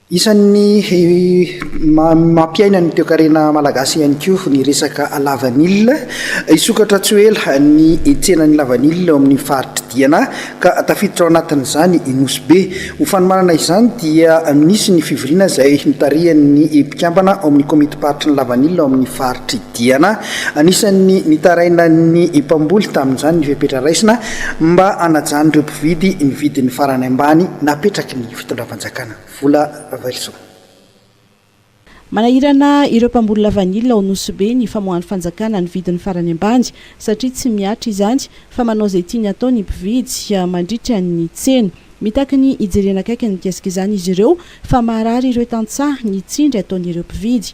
Isan'ny mampiaina ny toekarena malagasy ihany koa ny resaka lavanila. Hisokatra tsy ho ela ny tsenan'ny lavanila ao amin'ny faritr'i Diana ka tafiditra ao anatin'izany i Nosy Be. Ho fanomanana izany dia nisy ny fivoriana izay notarihan'ny mpikambana ao amin'ny komitim-paritry ny lavanila ao amin'ny faritr'i Diana. Anisan'ny nitarainan'ny mpamboly tamin'izany ny fepetra raisina mba hanajan'ireo mpividy ny vidiny farany ambany napetraky ny mpitondram-panjakana vola Ravelison. Manahirana ireo mpamboly lavanila ao Nosy Be ny famoahan'ny fanjakana ny vidiny farany ambany satria tsy mihatra izany fa manao izay tiany atao ny mpividy mandritra ny tsena. Mitaky ny hijerena akaiky ny mikasika izany izy ireo fa maharary ireo tantsaha ny tsindry ataon'ireo mpividy.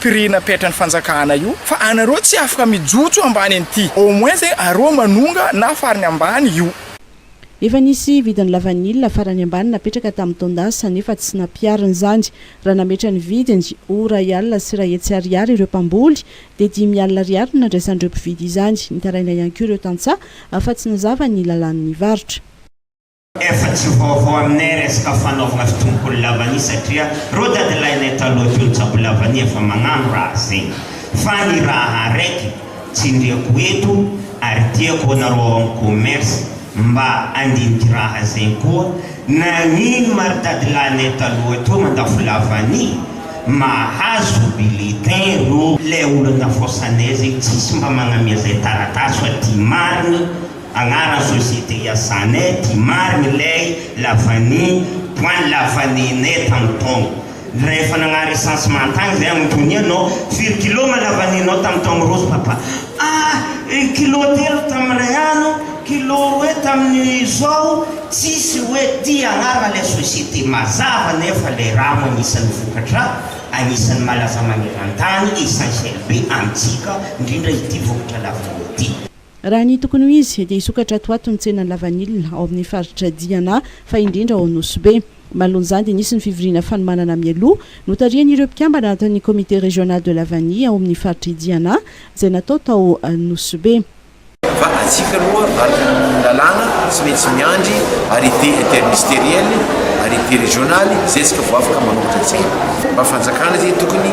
pirina petran'ny fanjakana io fa anareo tsy afaka mijotso ambany an'ity au moins e areo manonga na farany ambany io. Efa nisy vidin'ny lavanila farany ambany napetraka tamin'ny taon-dasa nefa tsy nampiharina izany. Raha nametra ny vidiny ho iray alina sy iray hetsy ariary ireo mpamboly dia dimy alina ariary no nandraisan'ireo mpividy izany. Nitaraina ihany koa ireo tantsaha fa tsy nazava ny lalàn'ny varotra. Efa tsy vaovao aminay resaka fanaovana fitombokony lavania satria reo dadilahinay taloha teo nitsabo lavania efa magnano raha zay. Fa ny raha araiky tsindriako eto ary tiako anareo ao amin'ny commerce mba andiniky raha zay koa, nagnino ma ry dadilahinay taloha teo mandafo lavania mahazo bulletin reo? Ilay olona nafaosanay zay tsisy mba magnamia zay taratasy fa ty marigny. Agnara société iasanay ty marigny lay la vanille point la vanille nay tam taogno ndray efa nagnary recensement tagny zay agnontognia anao firy kilo ma la vanille nao tam taogno roso papa ah kilo telo tam ray ano kilo roe taminy izao tsisy oe ty agnara lay société mazava nefa lay rano agnisany vokatra agnisany malaza magnerantany essentiel be amitsika ndrindra ity vokatra la vanille ty. Raha ny tokony ho izy, dia hisokatra ato ho ato ny tsenan'ny lavanila ao amin'ny faritra Diana, fa indrindra ao Nosy Be. Manoloan'izany dia nisy ny fivoriana fanomanana mialoha, notarihan'ireo mpikambana ato amin'ny Comité Régional de la Vanille ao amin'ny faritr'i Diana, izay natao tao Nosy Be. Fa antsika aloha vaky ny lalàna, tsy maintsy miandry arrêté interministériel, arrêté régional, izay isika vao afaka manoratra tsena. Mba fanjakana izay tokony.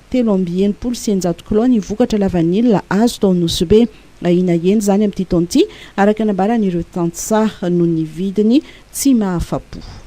Telo amby enimpolo sy eninjato kilao ny vokatra lavanila azo tao Nosy Be. Ahiana hihena izany amin'ity taona ity, araka ny nambaran'ireo tantsaha, noho ny vidiny tsy mahafa-po.